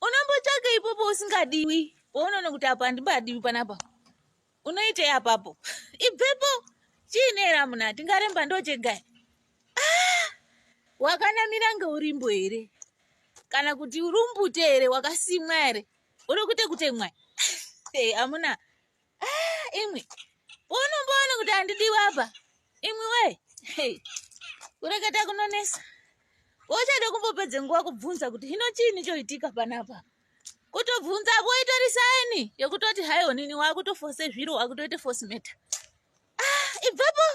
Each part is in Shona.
unombotsvaka ipopo usingadiwi pounoona kuti apa handibadiwi panapa unoitei apapo ibvepo chiinera muna tingaremba ndochegai ah! wakanamira ngeurimbo here kana kuti urumbute here wakasimwa here uri kuite kutemwa amuna hey, Ah, imwi unomboona kuti handidiwi apa imwi we hey. kureketa kunonesa uchada kumbopedza nguva kubvunza kuti hino chiini choitika panapa kutobvunza apo itori saini yekutoti hai onini wakutofose zviro wakutoita force matter ah, ibvapo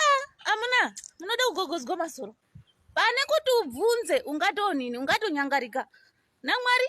ah, amuna munoda kugogodzwa masoro pane kuti ubvunze ungatoonini ungatonyangarika namwari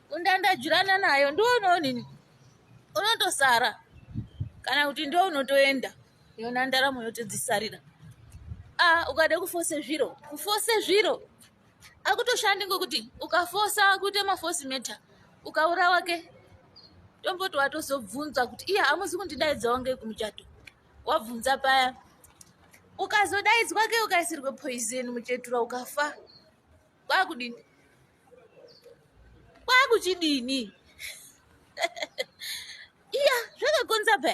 undandajurana nayo ndoonoonini unotosara kana kuti ndo unotoenda yona ndaramo yotodzisarira a ukada kufose zviro kufose zviro akutoshandi ngokuti ukafosa kuita mafosi meta ukaurawa ke tomboti watozobvunza kuti iya hamusi kundidaidzawo ngei kumuchato wabvunza paya ukazodaidzwa ke ukaisirwe poison muchetura ukafa kwakudini kwakuchidini iya zvakakonza pe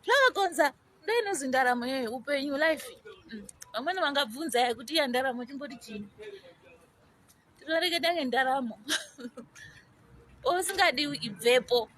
zvakakonza ndoinozi ndaramo yoyo upenyu life mm. vamweni vangabvunza ya kuti iya ndaramo chimboti chini tinoreketa ngendaramo osingadiwi ibvepo